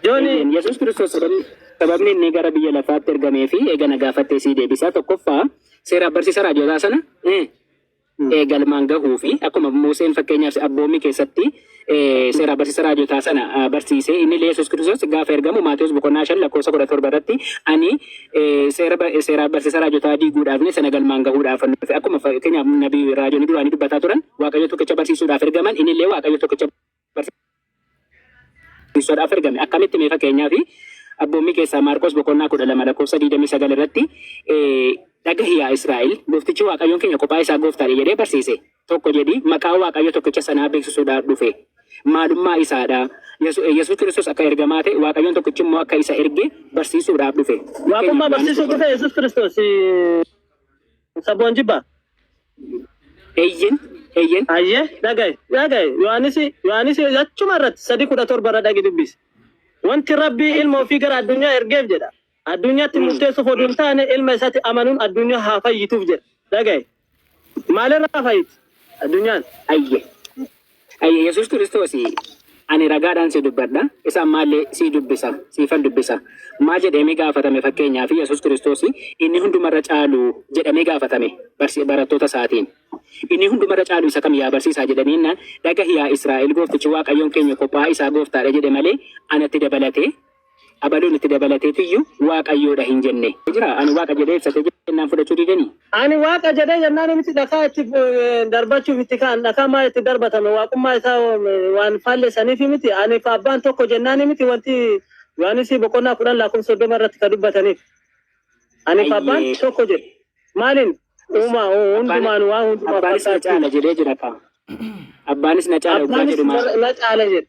Yoon Yesuus Kiristoos sababni, sababni inni gara biyya lafaatti ergamee fi eega na gaafattee sii deebisaa tokkoffaa seeraaf barsiisa raajootaa sana eh, eh, galmaan gahuu fi akkuma Museen fakkeenyaaf abboommii keessatti eh, seeraaf barsiisa raajootaa sana ah, barsiisee inni illee Yesuus Kiristoos gaafa ergamu Maatiyus boqonnaa shan lakkoofsa kudha torba irratti ani eh, seera ba- seeraaf barsiisa raajootaa diiguudhaaf ni sana galmaan gahuudhaaf nu dhufe. akkuma fakkeenyaaf nabii raajoonni duraanii dubbataa turan waaqayyo tokkicha barsiisuudhaaf ergaman inni illee waaqayyo tokkicha barsiisoodhaaf ergame. Akkamitti mee fakkeenyaaf abboommii keessaa Maarqos boqonnaa kudha lama lakkoofsa digdamii sagal irratti dhagahi yaa Israa'el gooftichi Waaqayyoon keenya kophaa isaa gooftaadha jedhee barsiise. Tokko jedhi maqaa Waaqayyo tokkicha sanaa beeksisuudhaaf dhufe. Maalummaa isaadha. Yesuus Kiristoos akka ergamaa ta'e Waaqayyoon tokkichi immoo akka isa erge barsiisuudhaaf dhufe. Waaqummaa barsiisuu dhufe Yesuus Kiristoos saboon jibba. Eeyyen, eeyyen. Ayyee dhaga'i, dhaga'i. Yohaanisi, Yohaanisi achuma irratti sadi kudha torba irra dhaqi dubbisi. Wanti Rabbi ilma ofii gara addunyaa ergeef jedha. Addunyaatti murteessuuf oduu hin taane ilma isatti amanuun addunyaa haa fayyituuf jedha. Dhaga'i. Maalirraa fayyiti addunyaan? Ayyee. Yaa Yesuus Kiristoos, ani ragaadhaan si dubbadha, isa ammaa illee sii dubbisa, siifan dubbisa. Maal jedheemii gaafatame fakkeenyaaf Yesuus Kiristoos inni hunduma irra caalu jedhamee gaafatame barattoota isaatiin. Inni hunduma irra caalu isa kam yaa barsiisaa jedhanii jennaan dhagahi yaa Israa'el gooftichi Waaqayyoon keenya kophaa isaa gooftaadha jedhe malee anatti dabalatee Abaluun itti dabalatee tiyyu Waaqayyoo dha hin jenne. Jira ani Waaqa jedhee ibsate jennaan fudhachuu dideni. Ani Waaqa jedhee jennaan namichi dhakaa itti darbachuuf itti ka'an dhakaa maa itti darbatame Waaqummaa isaa waan faallessaniif miti ani fi abbaan tokko jennaan miti wanti Yohaannisii boqonnaa kudhan lakkoofsa soddoma irratti ka dubbataniif. Ani fi abbaan Ayyee. tokko jedhe. Maaliin uumaa hundumaan waa hundumaa Abbaanis na fakkaachuu. caala jedhee jira kaa. Abbaanis na caala oggaa Abbaanis jedhu maal? na caala jedhe.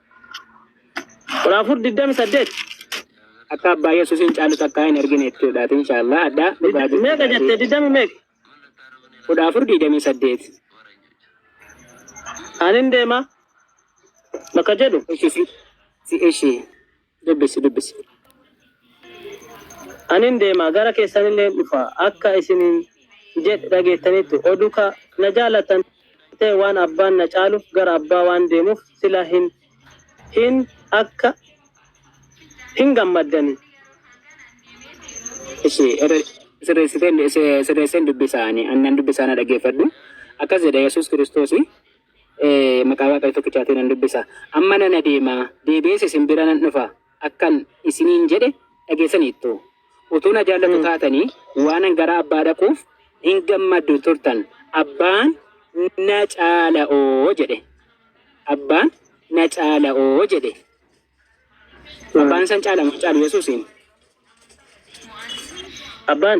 kudha afur digdami saddeet akka abbaa yesuusiin caalu takkaa hin argine jechuudhaati inshaallah addaa dhugaa jechuudha. meeqa jette digdami meeqa kudha afur digdami saddeet anin deema bakka jedhu ishi si si ishi Dubbisi, dubbisi. Ani in deema, gara keessan illee in dhufa, akka isiniin jedhe dhageettaniittu. O duka na jaallattan ta'e waan Abbaan na caaluuf gara Abbaa waan deemuuf sila hin, hin, akka, hin gammaddani. Ishi, irra sirreessitee, sirreesseen dubbisa ani, ani nan dubbisa na dhageeffadhu. Akkas jedha Yesuus Kiristoosi. Maqaa Waaqayyo tokkichaatiin nan dubbisa. Amma nan adeema, deebi'ees isin bira nan dhufa akkan isiniin jedhe dhageessaniittu. Utuu na jaallatu taatanii waanan gara Abbaa dhaquuf hin gammaddu turtan. Abbaan na caala'oo jedhe. Abbaan na caala'oo jedhe. Abbaan san caalamu caalu Yesuusiin. Abbaan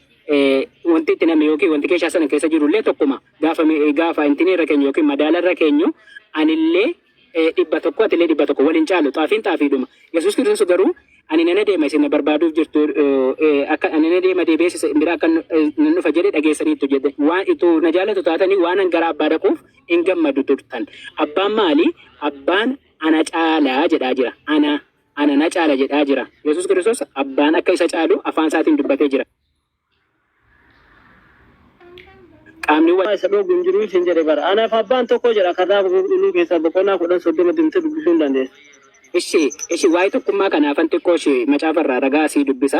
wanti itti namni yookiin wanti keeshaa sana keessa jiru illee tokkuma gaafa gaafa intinii irra keenyu yookiin madaala irra keenyu anillee dhibba tokko atillee dhibba tokko waliin caalu xaafiin xaafiidhuma yesuus kiristoos garuu ani nana deema isin na barbaaduuf jirtu akka ani nana deema deebi'eessa bira akka nan dhufa jedhe dhageessaniittu jedhe waan itti na jaallatu taatanii waan an gara abbaa dhaquuf hin gammadu turtan abbaan maali abbaan ana caalaa jedhaa jira ana Ana na caala jedhaa jira. Yesuus Kiristoos Abbaan akka isa caalu afaan isaatiin dubbatee jira. Qaamni Abbaa isa dhoogu hin jiru isin jedhe bara. Anaaf Abbaan tokko jedha. Kitaaba Qulqulluu keessaa boqonnaa kudhan soddoma deemtee dubbisuu hin dandeessu. Ishi, ishi, waa'ee tokkummaa kanaafan xiqqoo ishee macaafa irraa ragaa sii dubbisa.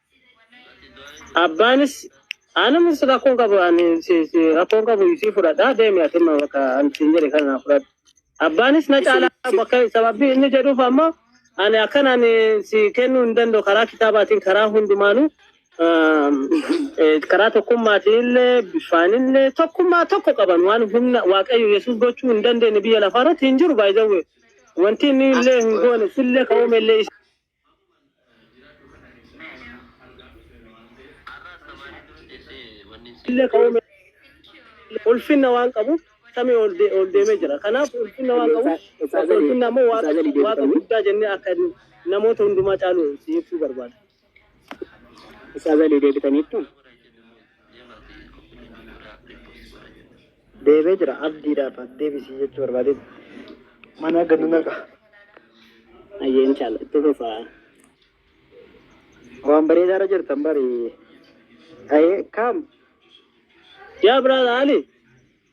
Abbaanis anuma si rakkoon qabu ani si si rakkoon qabu isii fudhadhaa deemi ati immoo bakka ani siin jedhe kana naa fudhadhu. Abbaanis na caalaa bakka sababii inni jedhuuf ammoo ani akkan ani si kennuu hin danda'u karaa kitaabaatiin karaa hundumaanuu aam, eh, karaa tokkummaatiin illee bifaan illee tokkummaa tokko qaban waan humna waaqayyo yesuus gochuu hin dandeenye biyya lafaa irratti hin jiru baay'ee wanti inni illee hin goone sillee ka'uume illee illee ka uume ulfinna waan qabuuf samii ol de- ol deemee jira. Kanaaf ulfinna waan qabuuf bakka ulfinna ammoo waaqa waaqa guddaa jennee akka namoota hundumaa caalu si ibsuu barbaada. Ustaaza illee deebitaniittu. Deebee jira abdiidhaaf as deebisii jechuu barbaadee mana gadi naqa. Ayyee inshallah itti fufa. Waan bareedaa irra jirtan bari. Ayee kaam. Yaa brother Ali.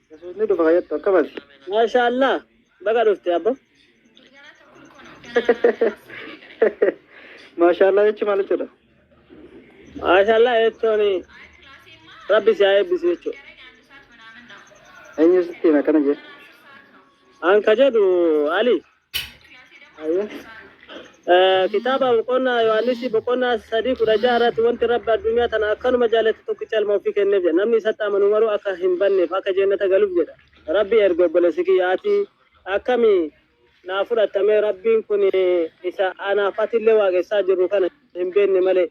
Yesuus ni dhufa kayyattu akkamati. Maashaa Allah baga dhufte abbo. Maashaa Allah jechi maal jechuudha? Maashaa Allah jechuun rabbi si haa eebbisu jechuudha. Eenyu sitti hima akkana jee? An ka jedhu Ali. Kitaaba boqonnaa Yohaannisii boqonnaa sadii kudha jaha irratti wanti rabbi addunyaa tana akkanuma jaalate tokkicha ilma ofii kenneef jedha. Namni isatti amanu maruu akka hin banneef akka jeennata galuuf jedha. Rabbi erge obboleessi kiyya ati akkami naa fudhattamee rabbiin kun isa anaaf atillee waaqessaa jirru kana hin beenne malee.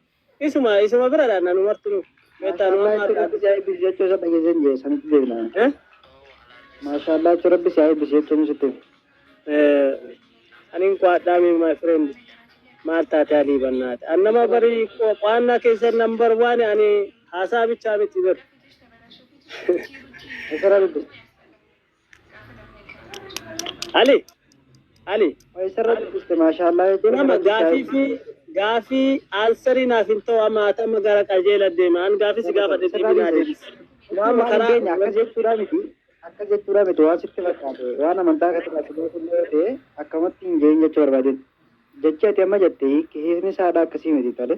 Isuma isuma bira dha nanu martinu. Beektaa nu amma harkaa. Rabbi si haa eebbisu jechuu isa dhageessee hin jee sanitti deebina. Eh? Maashaallah jechuun rabbi si haa eebbisu jechuun sitti hima. Eh, Anin qo'adhaa mee my friend. Maal taate alii bannaate. An nama barii qo- qo'annaa keessan number one ani haasaa bichaa miti bar. Isa rabbi. Ali Ali Isarratti dhufte maashaallah jechuun nama gaafii fi gaafii aansarii naaf hin ta'u amma ati amma gara qajeela deema an gaafii si gaafadhe deebii naa deebisi. Waan Amma karaa keenya akkas jechuudha miti. Akkas jechuudha miti waan sitti fakkaate waan amantaa akka xiqqaatti beekuun yoo ta'e akkamatti hin geenye jechuu barbaadin. Jechi ati amma jette hiikni isaa dha akkasii miti tole.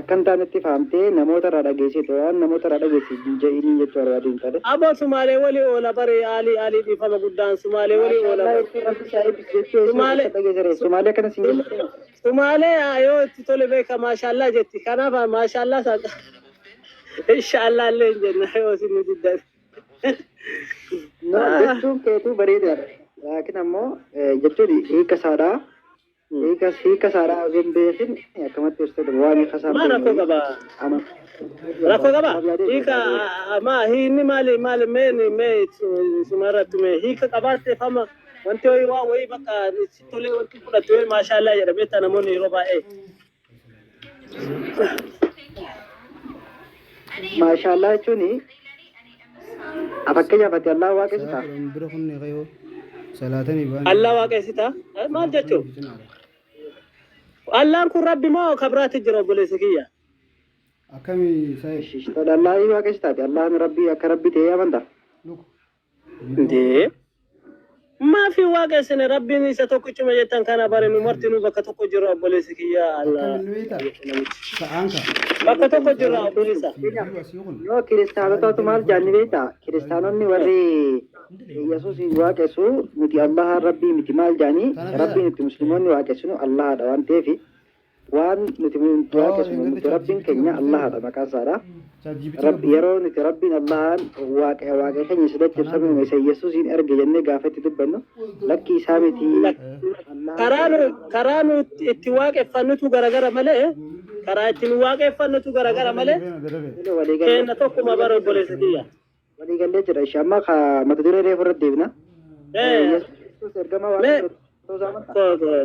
Akka hin taanetti faamtee namoota irraa dhageessite waan namoota irraa dhageesse hin je'iinii jechuu barbaadee hin taane. Abo sumale woli ola bare ali ali dhifama gudan sumale woli ola Maashaallah bare. jechuun rabbi si haa eebbisu jechuu eessaa Sumale keessa dhageessere sumaalee akkana siin Sum- jettu kun sumale ayo itti tole beeka maashaallah jetti kanaaf maashaallah sa inshaallah illee hin jenna yoo isin nu diddan. no jechuun keetuu bareedaadha laakiin ammoo eh, jechuun hiika isaadhaa Hiika hiika isaadhaa osoo hin beekin akkamatti ibsuu danda'u? Waan hiika isaa hin Maa rakkoo beekne qaba? ama Rakkoo qaba? maaf yaadee Hiika beekaa ta'e? a- a- maa hiinni maali maali mee ni- mee isu- isuma irratti mee hiika qabaatteef amma wanti ho'i waa wayii bakka si tolee wanti fudhattu yoo maashaallah jedha beektaa namoonni yeroo baay'ee Maashaallah jechuun fakkeenyaaf ati Allah waaqessita. Bira kunnee kayoo salaatanii ba'an. Allah waaqessita. Maal jechuun? Allaan kun rabbi moo kabiraatti jira obboleessa kiyya? Akkamii saayee? Shishtola Allah waaqessitaati. Allahan rabbii akka rabbi ta'ee amanta. Luka. Dee. Maafi waaqa isin rabbiin isa tokkichuma jettan kana bare nu martinuu bakka tokko jirra obboleessi kiyya Allah. Akkamiin nu hiita? Sa'aan ka. Bakka tokko jirra obboleessa. Jiru asii kun. Yoo kiristaanotaatu maal jaanni beektaa? Kiristaanonni warri Yesuusiin waaqessu nuti Allaha rabbii miti maal jaanii? Rabbiin itti musliimonni waaqessinu Allahadha waan ta'eef Waan nuti du'aa qesnu nuti Rabbiin keenya Allahaadha maqaan isaadha. Rabbi yeroo nuti Rabbiin Allahaan waaqa waaqa keenya isa daccabsame uume isa Yesuusiin erge jennee gaafa itti dubbannu lakki isaa miti Karaa nu karaa nu itti waaqeffannutu garagara malee karaa itti nu waaqeffannutu garagara malee walii keenya tokkuma bara obboleessa kiyya. Walii gallee jira ishee amma ka mata duree reefu irratti deebina. Ee, Yesuus ergamaa Mee- waaqayyoo ta'uu isaa amantaa? koo koo.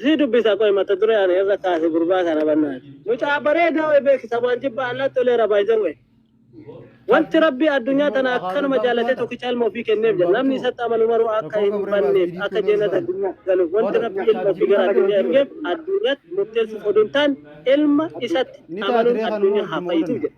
Si dubbisa qoy mata duree ani irra kaase gurbaa kana bannaa. Mucaa bareedaa wayii beeksisa waan jibbaa allaa toleera baay'ee wayii. Wanti rabbi addunyaa tana akkanuma jaallatee tokkicha ilma ofii kenneef jedha. Namni isatti amanu maruu akka hin banneef akka jeenata addunyaa galuuf wanti rabbi ilma ofii gara addunyaa ergeef addunyaatti murteessuuf oduu hin taane ilma isatti amanuun addunyaa haa fayyitu jedha.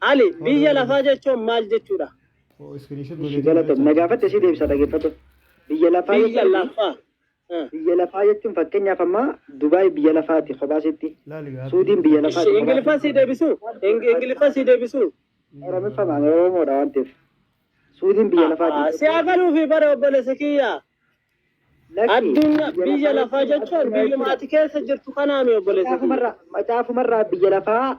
Ali, biyya lafaa jechuun maal jechuudha? Ishi galata na gaafatte si deebisa dhageeffatu. Biyya lafaa Biyya jechuun lafaa. Ah. biyya lafaa jechuun fakkeenyaaf ammaa Dubaay biyya lafaati kophaa sitti. Suudiin biyya lafaati Ishi kophaa Ingiliffaa sii deebisuu? Ing- Ingiliffaa sii deebisuu? Oromiffaa maal Oromoodha waan ta'eef. Suudiin biyya Ah, ah, lafaati. Si haa galuufi bara obboleessa kiyya. Lakki, Addunyaa biyya lafaa jechuun addunyaa biyyuma jechuudha. ati keessa jirtu kanaami obboleessa kiyya. Macaafumarraa macaafumarraa biyya lafaa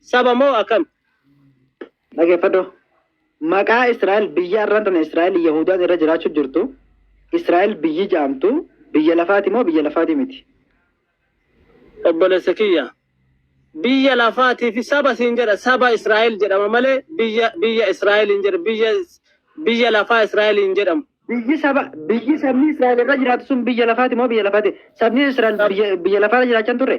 Saba moo akam? Dhageeffadhu. Maqaa Israa'el biyya arraan tana Israa'el Yahudaan irra jiraachuu jirtu Israa'el biyyi ja'amtu biyya lafaati moo biyya lafaati miti? Obboleessa kiyya biyya lafaatii fi saba siin jedha saba Israa'el jedhama malee biyya biyya Israa'el hin jedhamu biyya biyya lafaa Israa'el hin jedhamu. Biyyi saba biyyi sabni Israa'el irra jiraatu sun biyya lafaati moo biyya lafaati? Sabni Israa'el biyya biyya lafaa irra jiraachaa hin turre?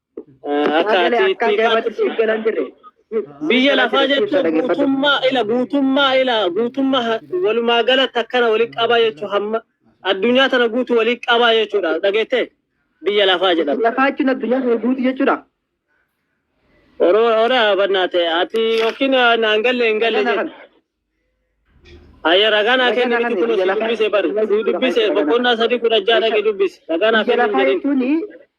Akka ati itti gaafatu. Biyya lafaa jechuun guutummaa ila guutummaa ila guutummaa walumaa galatti akkana walitti qabaa jechuun hamma addunyaa tana guutuu walitti qabaa jechuudha dhageettee biyya lafaa jedhama. Lafaa jechuun addunyaa kana guutuu jechuudha. Oromoo ora bannaate ati yookiin naan galle hin galle jedhu. Ayya ragaa naa kenni miti kun si dubbise bari si dubbise boqonnaa sadii kudha ja'a dhaqi dubbise ragaa naa Biyya kenni lafaa hin jedhin. jechuun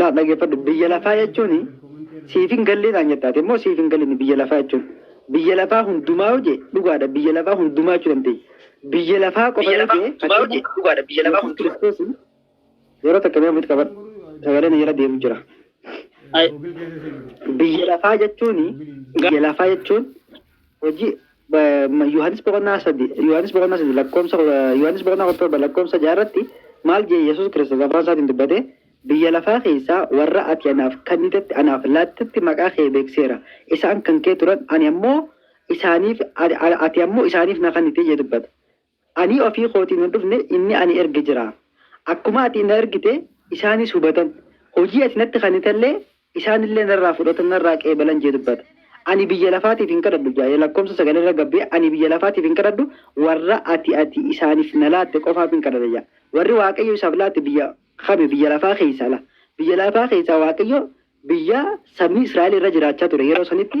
Laa dhaggeeffadhu biyya lafaa jechuun siif hin gallee naan jetta ati immoo siif hin galinni biyya lafaa jechuun biyya lafaa hundumaa yoo jee dhugaadha biyya lafaa hundumaa jechuu dandeenya. Biyya lafaa qofa yoo jee Yesuus Kiristoos yeroo takka mee ofitti qabadhu sagalee na jala deemu jira. Biyya lafaa jechuun biyya lafaa jechuun Hojii Yohaannis boqonnaa sadi Yohaannis boqonnaa sadi lakkoomsa Yohaannis boqonnaa kudha torba lakkoomsa ja'a irratti maal jee Yesuus Kiristoos afaan isaatiin dubbate biyya lafaa keessaa warra ati anaaf kennitetti anaaf laattetti maqaa kee beekseera isaan kan kee turan ani ammoo isaaniif ati ammoo isaaniif na kennite jee dubbata Ani ofii kootiin hin dhufne, inni ani erge jira. Akkuma ati na ergite, isaanis hubatan, hojii ati natti kennitellee isaanillee narraa fudhatan, narraa qeebalan jee dubbata. Ani biyya lafaatiif hin kadhadhu, 6 lakkoofsa 9 irra gad bu'ee, Ani biyya lafaatiif hin kadhadhu, warra ati ati isaaniif na laatte qofaafin kadhadha jedha. Warri Waaqayyo isaaf laate biyya kami? Biyya lafaa keessaa la. Biyya lafaa keessaa Waaqayyo biyya sabni Israa'el irra jiraachaa ture yeroo sanitti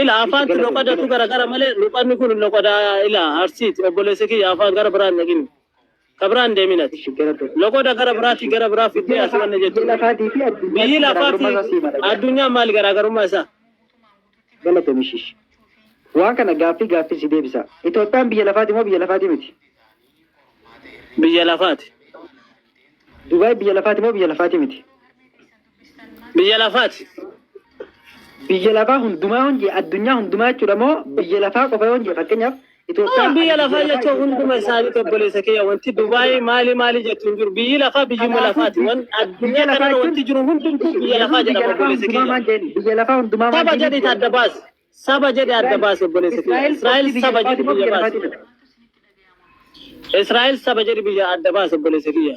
Ila afaan tu loqada tu gara gara male loqadni kun loqada ila arsiit obboleessa kiyya afaan gara biraan dhaqin ka biraan deemin ati loqoda gara biraati gara biraa fiddee ati wanna jettu biyyi lafaati addunyaa maal garaagarummaa isaa galatoomi shish waan kana gaaffii gaaffii si deebisa Itoophiyaan biyya lafaati moo biyya lafaati miti biyya lafaati Dubaay biyya lafaati moo biyya lafaati miti Biyya lafaati. Biyya lafaa hundumaa yoon jee addunyaa hundumaa jechuudha moo biyya lafaa qofa yoon jee fakkeenyaaf Itoophiyaa. Amma biyya lafaa jechuun hunduma isaanii obboleessa kiyya wanti Dubaayii maali maali jettu hin jiru. Biyyi lafaa biyyuma lafaati. Wan addunyaa kanarra wanti jiru hundumtuu biyya lafaa jedhama obboleessa kiyya. Biyya lafaa hundumaa Saba jedhi adda baasi. Saba jedhi adda baasi obboleessa kiyya. Israa'el saba jedhi biyya baasi. Israa'el saba jedhi biyya adda baasi obboleessa kiyya.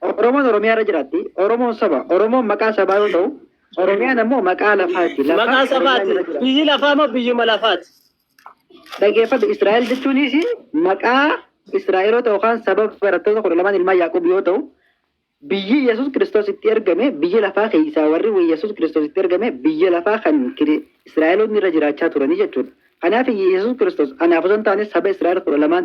Oromoon Oromiyaa irra jiraatti. Oromoon saba. Oromoon maqaa sabaa yoo ta'u, Oromiyaan ammoo maqaa lafaati. Lafa Maqaa Oromiyaan sabaati. irra jiraatti. Biyyi lafaa moo biyyuma lafaati? Dhageeffadhu Israa'el jechuunis maqaa Israa'eloota yookaan saba barattoota kudha lamaan ilmaan Yaaqoob yoo ta'u, biyyi Yesuus Kiristoos itti ergame biyya lafaa keessaa warri Yesuus Kiristoos itti ergame biyya lafaa kan kiri- Israa'eloonni irra jiraachaa turanii jechuudha. Kanaaf Yesuus Kiristoos anaaf osoo hin taane saba Israa'el kudha lamaan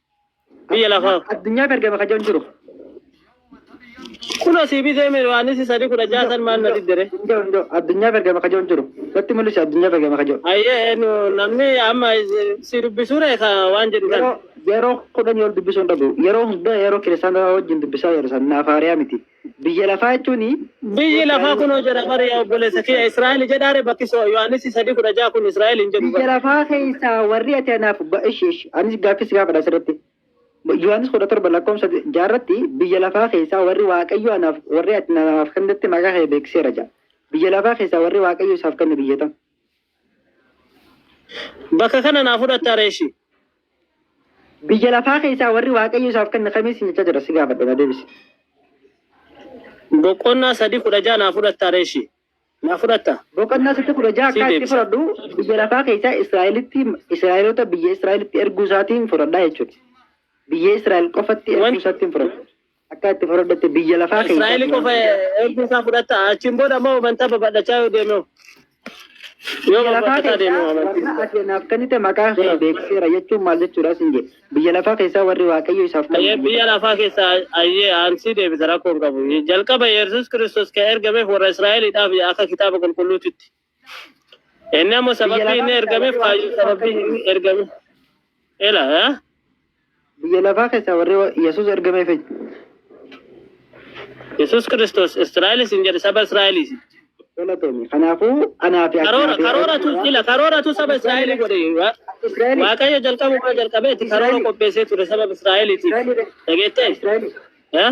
Biyya lafaa. Addunyaa gargama ka jiran jiru. Kunoo sii bitee mee Yohaannisi sadii kudha ja'a san maal na diddere? Hundoo hundoo addunyaa gargama ka jiran jiru. Natti mul'isi addunyaa gargama ka jiru. Ayyee nu namni amma si dubbisuure ka waan jedhu Yeroo kana. yeroo kudhan yoo dubbisuu hin dhabu. Yeroo hundaa yeroo kiristaanaa wajjin dubbisaa yeroo sana naaf haariyaa miti. Biyya lafaa jechuun. Biyyi lafaa kunoo jedha bar yaa obboleessa kiyya Israa'el jedhaare bakki so Yohaannis 3:16 kun Israa'el hin jedhu bar. Biyya lafaa keessaa warri ati anaaf ba ishi ishi anis gaaffii si gaafadha asirratti. Yohaannis 17 lakkoofsa 6 irratti biyya lafaa keessaa warri Waaqayyo anaaf warri ati anaaf kennetti maqaa kee beeksiseera jedha. Biyya lafaa keessaa warri Waaqayyo isaaf kenne biyya tam? Bakka kana naa fudhatta reeshi. Biyya lafaa keessaa warri Waaqayyo isaaf kenne kamii siin jechaa jira si gaafadhe na deebisi. Boqonnaa sadii kudha ja'a naa fudhatta reeshi. Naa fudhatta. Boqonnaa sadii kudha ja'a Sii akka itti deebisa. fudhadhu biyya lafaa keessaa Israa'elitti Israa'eloota biyya Israa'elitti erguu isaatiin fudhadhaa jechuudha. Biyya Israa'el qofatti erguu Wan- isaatiin fudhadha. Akka itti fudhadhatte biyya lafaa keessaa. Israa'el qofa ergi isaa fudhatta. Achiin booda ammoo amantaa babal'achaa yoo deemee. Yoo Biyya lafaa babal'ataa deemee keessaa warra amantii. ati naaf kennite maqaa kee beeksiseera jechuun maal jechuudha siin jedhe. Biyya lafaa keessaa warri Waaqayyo isaaf Ayyee kennite. biyya lafaa keessa ayyee aansii deebisa rakkoon qabu. Jalqaba Yesuus Kiristoos kan ergameef warra Israa'eliidhaaf akka kitaaba qulqulluutitti. Inni ammoo sababii inni ergameef kaayyoo sababii inni ergame. Ela haa? Biyya lafaa keessaa warri Yesuus ergameef eenyu? Yesuus Kiristoos Israa'elis hin jedhe saba Israa'elis. Galatoomi. Kanaafuu anaa fi Karoora Aknaafi- karooratu ila karooratu saba Israa'elii godhe. Wa- Israa'elii. Waaqayyo jalqabuma jalqabeeti karoora qopheessee ture saba Israa'eliitiif. Israa'elii. Dhageettee? Israa'elii. Haa?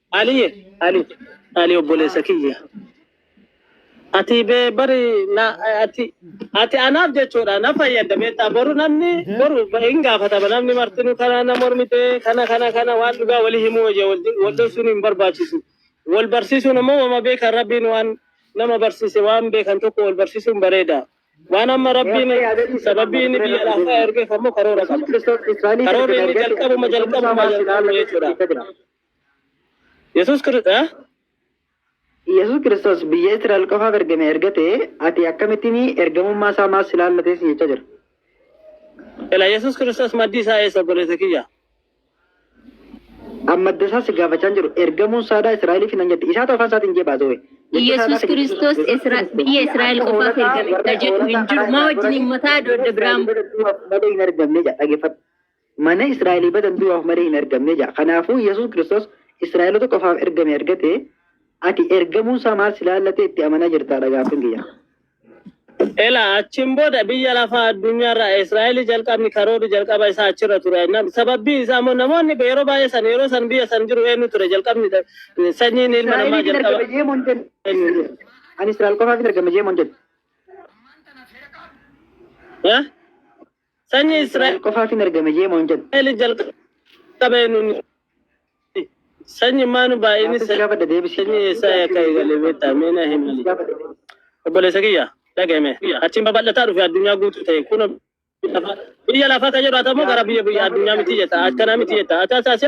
Aliye ali ali obboleessa kiyya ati be bari na ati ati anaaf jechuudha na fayyadda beektaa boru namni boru hin gaafatama namni martinu kana na mormite kana kana kana waan dhugaa wali himuu wayya wal dhoksuun hin barbaachisu wal barsiisuun ammoo wama beekan rabbiin waan nama barsiise waan beekan tokko wal barsiisuun bareeda waan amma rabbiin sababii inni biyya lafaa ergeef ammoo karoora qaba karoorri inni jalqabuma jalqabuma jalqabuma jechuudha Yesuus Kiristoos Yesuus Kiristoos biyya Israa'el qofaaf ergame erga ta'e ati akkamittiin ergamummaa isaa maas si laallatee si jechaa jira. Ela Yesuus Kiristoos maddi isaa eessa obboleessa kiyya? An madda isaa si gaafachaa hin jiru ergamuun saadaa Israa'eliif nan jette isaatu afaan isaatiin jee baasee wayi. Yesuus Kiristoos Isra- biyya Israa'el qofaaf ergame ka jedhu hin jiru. Maa wajjin himmataa adda biraan Malee hin ergamne jedha dhaggeeffadhu. Mana Israa'elii badan du'aaf malee hin ergamne ja'a. Kanaafuu Yesuus Kiristoos Israa'elota qofaaf ergame erga ta'e, ati ergamuun isaa maal si laallatee itti amanaa jirtaa dha gaaffiin kiyya. Elaa achiin booda biyya lafaa addunyaa irraa Israa'elii jalqabni karoorri jalqaba isaa achirra ture. Nam- Sababbiin isaa immoo namoonni be- yeroo baay'ee san yeroo san biyya san jiru eenyu ture jalqabni da- sanyiin ilma namaa Israa'eliif hin jalqaba. ergame jee moon jedhu. eenyu ture? Ani Israa'el qofaaf hin ergame jee moon jedhu. Eh? Sanyii Israa'el qofaaf hin ergame jee moo hin jenne? Israa'el jalqaba eenyuun Sanyii maanu baay'inni sanyii eessaa akka eegale beektaa mee na himi. Obboleessa kiyya dhaga'ime achiin babal'ataa dhufe addunyaa guutuu ta'e kunoo biyya lafaa kan jedhu ati ammoo gara biyya biyya addunyaa miti jetta akkana miti jetta ati ati ati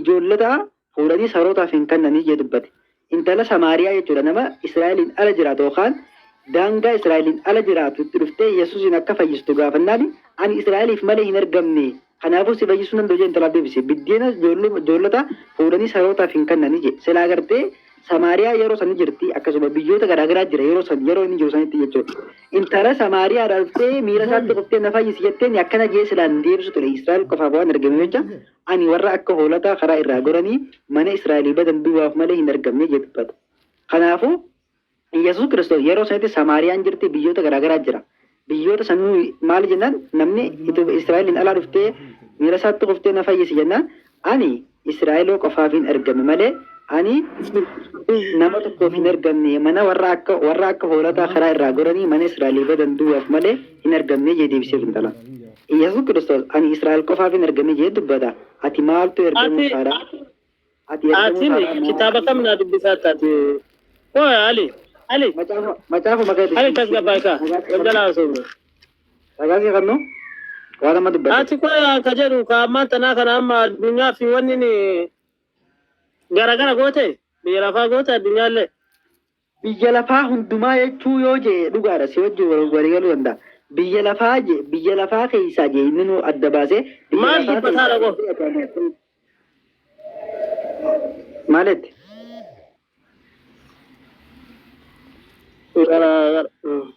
Ijoollota fuudhanii sarootaaf hin kannanii jee dubbate. Intala Samaariyaa jechuudha nama Israa'eliin ala jiraatu yookaan daangaa Israa'eliin ala jiraatu itti dhuftee Yesuusiin akka fayyistu gaafannaan ani Israa'eliif malee hin ergamne kanaafuu si fayyisuu hin danda'u jee intalaaf deebise. Biddeena ijoollota fuudhanii sarootaaf hin kannanii jee. Silaa gartee Samaariyaa yeroo san ni jirti akkasuma biyyoota garaagaraa jira yeroo san yeroo inni jiru sanitti jechuudha. Intala Samaariyaadhaa dhuftee miira isaatti dhuftee na fayyisi jetteen akkana jee silaan deebisu ture Israa'el qofaaf waan ergameef jecha Ani warra akka hoolotaa karaa irraa goranii mana Israa'elii badan duwwaaf malee hin ergamne jedhee dubbate. Kanaafuu, Yesuus Kiristoos yeroo sanitti Samaariyaan jirti, biyyoota garaa garaa jira. Biyyoota san nuyi maali jennaan namni Itoophiyaa Israa'eliin alaa dhuftee miila isaatti kuftee na fayyisi jennaan ani Israa'eloo qofaafin ergame malee ani nama tokkoof hin ergamne mana warra akka warra akka hoolotaa karaa irraa goranii mana Israa'elii badan duwwaaf malee hin ergamne jedhee deebiseef intala. Iyyasuu Kiristoos ani Israa'el qofaafin ergame jedhee dubbata. Ati maaltu ergamuu Ati isaadha? Ati ergamuu atini isaadha maal? kitaaba kam naa dubbisaa taate? Qoy Ali Ali Macaafa macaafa maqaa itti Ali siin tasgabbaa'e kaa ragaa siin galgala qabnu haasofna. ragaa siin qabnu waan amma dubbate. Ati qoy ka jedhu ka ammaan tanaa kana amma addunyaa fi wanni ni garagara goote biyya lafaa goote addunyaallee. Biyya lafaa hundumaa jechuu yoo jee dhugaadha si wajjin walii galuu danda'a. Biyya lafaa jee biyya lafaa keessaa jee inninuu adda baasee biyya Maal lafaa jibba keessaa saadha koo? jechuu adda baasee. Maal jette? Gara gara.